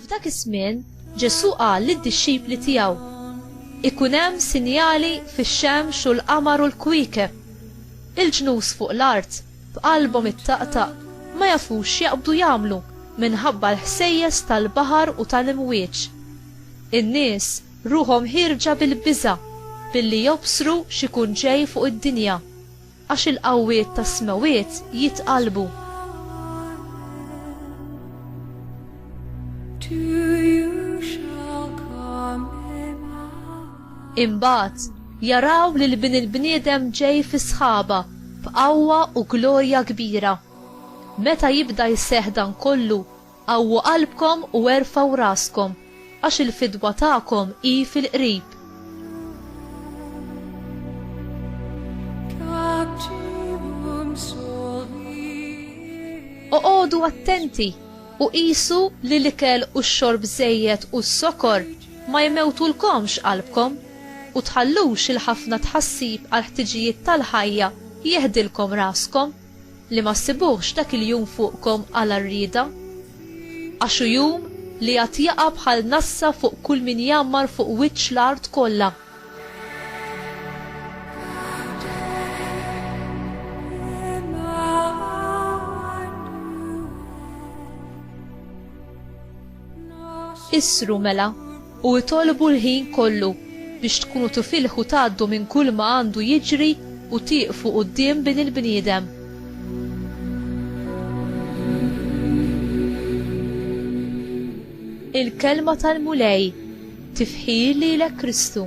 F'dak iż-żmien Ġesù qal lid-dixxipli tiegħu, Ikun hemm sinjali fix-xemx u l-qamar u l-kwiekeb. Il-ġnus fuq l-art, b'qalbhom ittaqtaq, ma jafux x'jaqbdu jagħmlu minħabba l-ħsejjes tal-baħar u tal-imwieġ. In-nies ruħhom ħierġa bil-biża' billi jobsru x'ikun ġej fuq id-dinja, għax il-qawwiet tas-smewwiet jitqallbu. Imbagħad jaraw lil Bin il-bniedem ġej fis-sħaba b'qawwa u glorja kbira. Meta jibda jseħħ dan kollu, Qawwu qalbkom u erfgħu raskom, għax il-fidwa tagħkom hi fil-qrib. Oqogħdu attenti u qisu li l-ikel u x-xorb żejjed u s-sokor ma jmewtulkomx qalbkom, u tħallux il-ħafna tħassib għall-ħtiġijiet tal-ħajja jeħdilkom raskom. Li ma ssibuhx dak il-jum fuqkom għala rrieda? Għax hu jum li għad jaqa' bħal nassa fuq kull min jgħammar fuq wiċċ l-art kollha. Issru mela! u itolbu l-ħin kollu biex tkunu tufilh u tgħaddu minn kulma għandu jiġri u tieqfu quddiem Bin il-bniedem. Il-Kelma tal-Mulej, Tifħir lilek Kristu.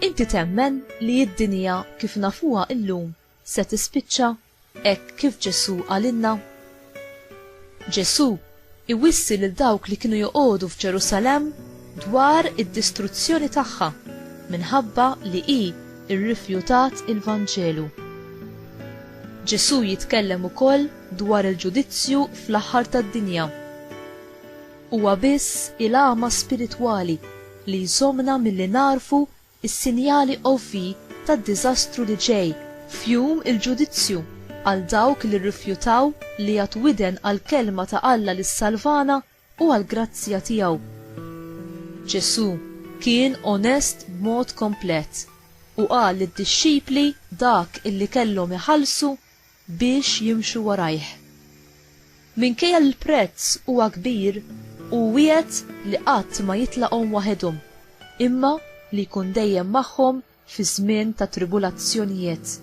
Inti temmen li d-dinja kif nafuha illum se tispiċċa? hekk kif Ġesù qalilna? Ġesù iwissi lil dawk li kienu joqogħdu f'Ġerusalemm dwar id-distruzzjoni tagħha minħabba li hi rrifjutat il-Vanġelu. Ġesù jitkellem ukoll dwar il-ġudizzju fl-aħħar tad-dinja. Huwa biss il-għama spiritwali li jżommna milli nagħrfu is-sinjali UV tad-diżastru li ġej f'Jum il-Ġudizzju għal dawk li rrifjutaw li jagħtu widen għall-kelma ta' Alla li ssalvana u għall-grazzja tiegħu. Ġesù kien onest b'mod komplet u qal lid-dixxipli dak illi kellhom iħallsu biex jimxu warajh. Minkejja li l-prezz huwa kbir, hu wiegħed li qatt ma jitlaqhom waħedhom, imma li jkun dejjem magħhom fi żmien ta' tribulazzjonijiet.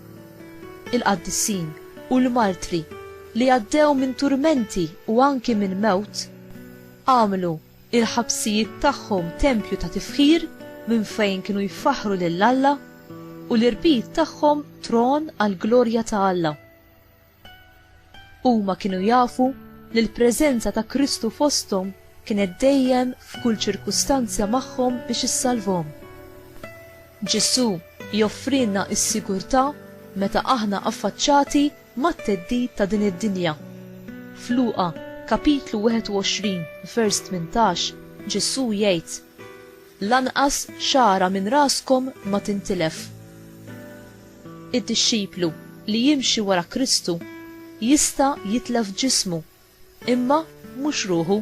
Il-qaddisin u l-martri li għaddew minn turmenti u anki minn mewt, għamlu il-ħabsijiet tagħhom tempju ta' tifħir minn fejn kienu jfaħħru lil Alla, u l-irbit tagħhom tron għall-glorja ta' Alla. Huma kienu jafu li l-preżenza ta' Kristu fosthom kienet dejjem f'kull ċirkustanzja magħhom biex issalvhom. Ġesù joffrilna s-sigurtà meta aħna affaċċati mat-theddid ta' din id-dinja. F'Luqa, kapitlu 21, vers 18, Ġesù jgħid, Lanqas xagħra minn raskom ma tintilef. Id-dixxiplu li jimxi wara Kristu jista' jitlef ġismu Imma mhux ruħu.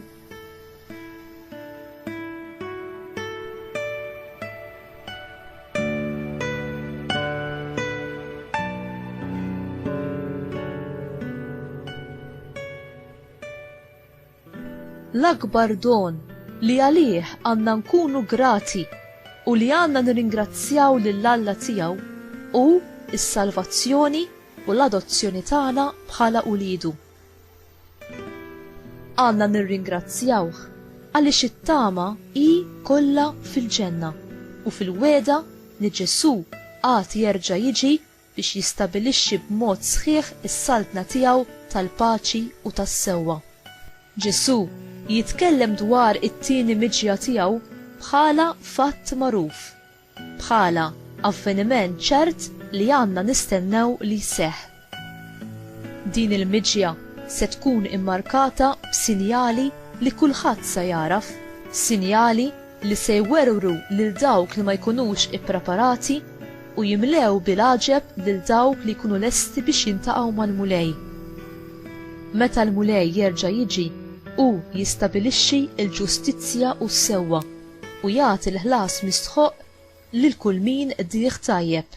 l-akbar don li għalih għanna nkunu grati u li għanna nirringrazzjaw lill-Alla tiegħu u s-salvazzjoni u l-adozzjoni tagħna bħala ulidu. Għandna nirringrazzjawh għaliex it-tama hi kollha fil-ġenna u fil-wegħda li Ġesù għad jerġa' jiġi biex jistabilixxi b'mod sħiħ is-Saltna tiegħu tal-paċi u tas-sewwa. Ġesù jitkellem dwar it-tieni miġja tiegħu bħala fatt magħruf. bħala avveniment ċert li għandna nistennew li jseħħ. Din il-miġja se tkun immarkata b'sinjali li kulħadd se jagħraf, sinjali li se jwerwru lil dawk li ma jkunux ippreparati u jimlew bil-għaġeb lil dawk li jkunu lesti biex jiltaqgħu mal-Mulej. Meta l-Mulej jerġa' jiġi, hu jistabilixxi l-ġustizzja u s-sewwa. u jagħti l-ħlas mistħoqq lil kull min qdih tajjeb.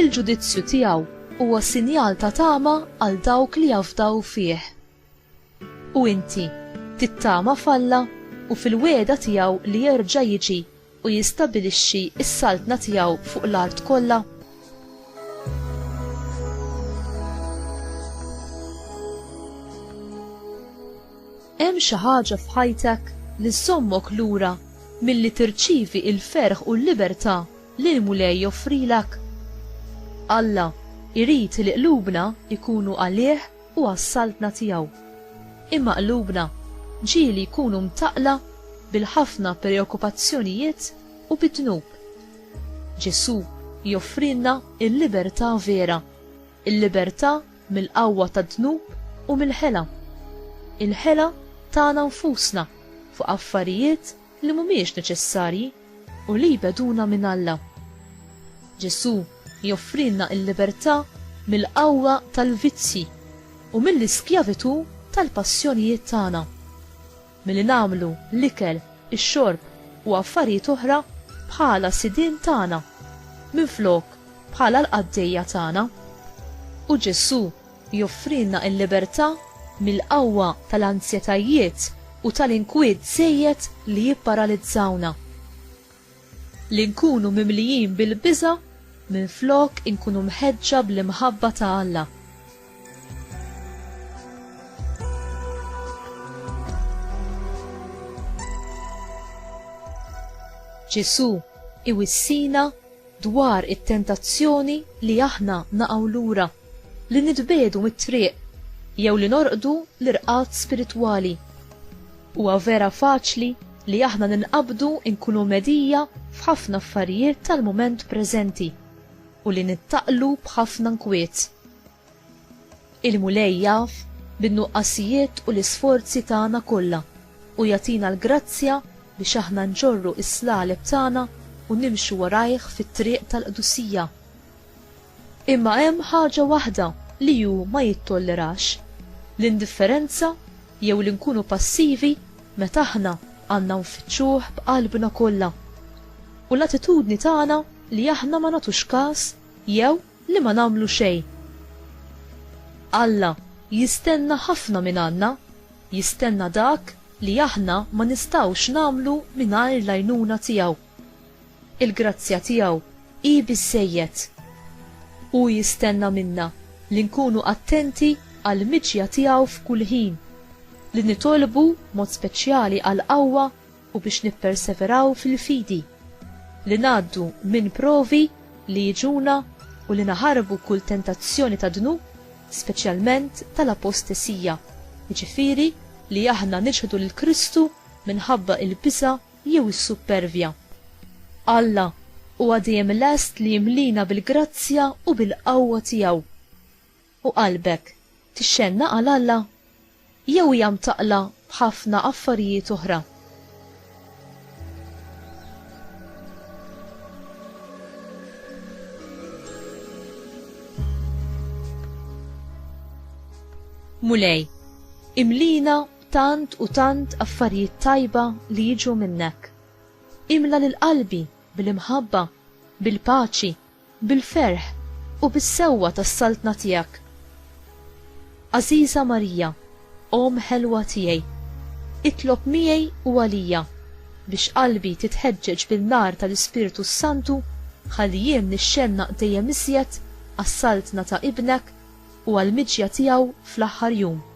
Il-ġudizzju tiegħu huwa sinjal ta' tama għal dawk li jafdaw fih. U inti, tittama f'Alla u fil-wegħda tiegħu li jerġa' jiġi u jistabilixxi s-saltna tiegħu fuq l-art kollha? Hemm xi ħaġa f'ħajtek li żżommok lura milli tirċievi l-ferħ u l-libertà li l-Mulej joffrilek? Alla jrid li qlubna jkunu għalih u għas-Saltna tiegħu. Imma qlubna ġieli jkunu mtaqqla bil-ħafna preokkupazzjonijiet u bid-dnub. Ġesù joffrilna l-libertà vera. Il-libertà mill-qawwa tad-dnub u mill-ħela. Il-ħela tagħna nfusna fuq affarijiet li mhumiex neċessarji u li jbegħduna minn Alla. Ġesù joffrilna l-libertà mill-qawwa tal-vizzji u mill-iskjavitù tal-passjonijiet tagħna. milli nagħmlu l-ikel, ix-xorb u affarijiet oħra bħala sidien tagħna, minflok bħala l-qaddejja tagħna. U Ġesù joffrilna l-libertà mill-qawwa tal-anzjetajiet u tal-inkwiet żejjed li jipparalizzawna. li nkunu mimlijin bil-biża' minflok inkunu mħeġġa bl-imħabba ta' Alla. Ġesù iwissina dwar it-tentazzjoni li aħna naqgħu lura. Li nitbiegħdu mit-triq jew li norqdu l-irqad spiritwali. Huwa vera faċli li aħna ninqabdu nkunu mhedija f'ħafna affarijiet tal-mument preżenti u li nittaqlu b'ħafna nkwiet. Il-Mulej jaf bin-nuqqasijiet u l-isforzi tagħna kollha u jagħtina l-grazzja biex aħna nġorru s-slaleb tagħna u nimxu warajh fit-triq tal-qdusija. Imma hemm ħaġa waħda li hu ma jittollerax, l-indifferenza jew li nkunu passivi meta aħna għandna nfittxuh b'qalbna kollha. U l-attitudni tagħna li aħna ma nagħtux kas jew li ma nagħmlu xejn. Alla jistenna ħafna mingħandna, jistenna dak li aħna ma nistgħux nagħmlu mingħajr l-għajnuna tiegħu. Il-grazzja tiegħu hi biżżejjed. Hu jistenna minna li nkunu attenti għall-miġja tiegħu f'kull ħin, li nitolbu b'mod speċjali għall-qawwa u biex nipperseveraw fil-fidi, li ngħaddu minn provi li jiġuna u li naħarbu kull tentazzjoni tad-dnub, speċjalment tal-apostesija, jiġifieri li aħna niċħdu lil Kristu minħabba l-biża' jew is-suppervja. Alla huwa dejjem lest li jimlina bil-grazzja u bil-qawwa tiegħu. U qalbek tixxennaq għal Alla? Jew hija mtaqqla b'ħafna affarijiet oħra? Mulej, imlina Tant u tant affarijiet tajba li jiġu minnek. Imla lil qalbi bil-imħabba, bil-paċi, bil-ferħ u bis-sewwa tas-Saltna tiegħek. Għażiża Marija, Omm ħelwa tiegħi, itlob miegħi u għalija biex qalbi titħeġġeġ bin-nar tal-Ispirtu s-Santu ħalli jien nixxennaq dejjem iżjed għas-Saltna ta' Ibnek u għall-miġja tiegħu fl-aħħar jum.